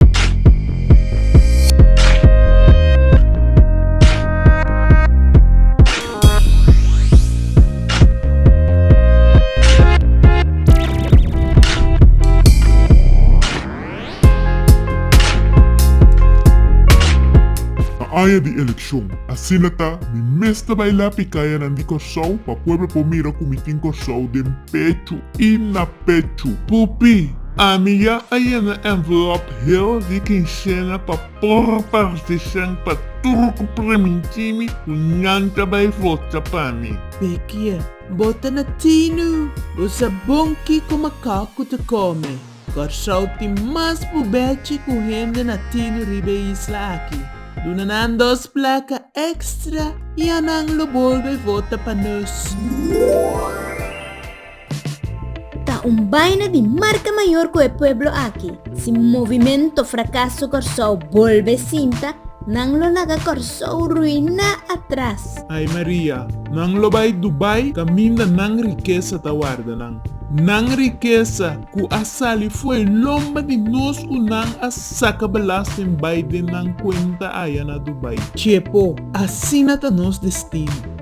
Na aña di elekshon, asina ta, mi mes ta bai lapi kayanan di Kòrsou pa pueblo por mira ku mi tin Kòrsou den pechu i na. pechu. Pupi, Ami ya a yena envelop hel di kinsena pa por partishan pa tur cu premintimi cu nan ta bay vota pa mi. Bekia, Bo ta na tinu! Bo sa bon kico macacu ta come. Corsou tin mas bubechi cu hende na tinu riba e isla aki. Duna nan dos placa extra y a nan lo bolbe vota pa nos. Ta un baina di marka mayor ku e pueblo aki si Movimento Frakaso Kòrsou bolbe sinta, nan lo laga Kòrsou ruiná atras. Ai Maria, nan lo bai Dubai kaminda nan rikesa ta warda nan. Nan rikesa ku a sali fo'i lomba di nos ku nan a saka belasting bai den nan kuenta aya na Dubai. Chepo, asina ta nos destino.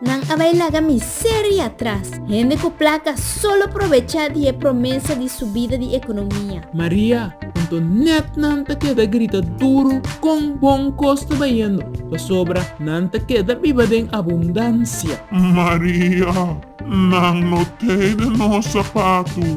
Nan a bai laga miseria atras. Hende ku plaka solo probechá di e promesa di subida di ekonomia. Maria, Anto nèt nan ta keda grita duru kon bon kos ta bayendo, pasobra nan ta keda biba den abundansia. Maria, Nan no tei den nos sapatu,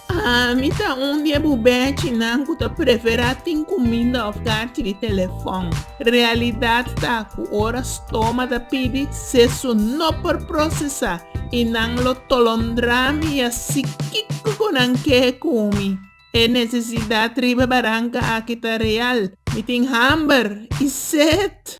Ami ta un di e bubechinan ku ta preferá tin kuminda òf karchi di telefòn. Realidat ta ku ora stoma ta pidi, sesu no por prosesá i nan lo tolondrá mi i a si kiko ku nan ke kumi. E nesesidat riba baranka aki ta real. Mi tin hamber i set.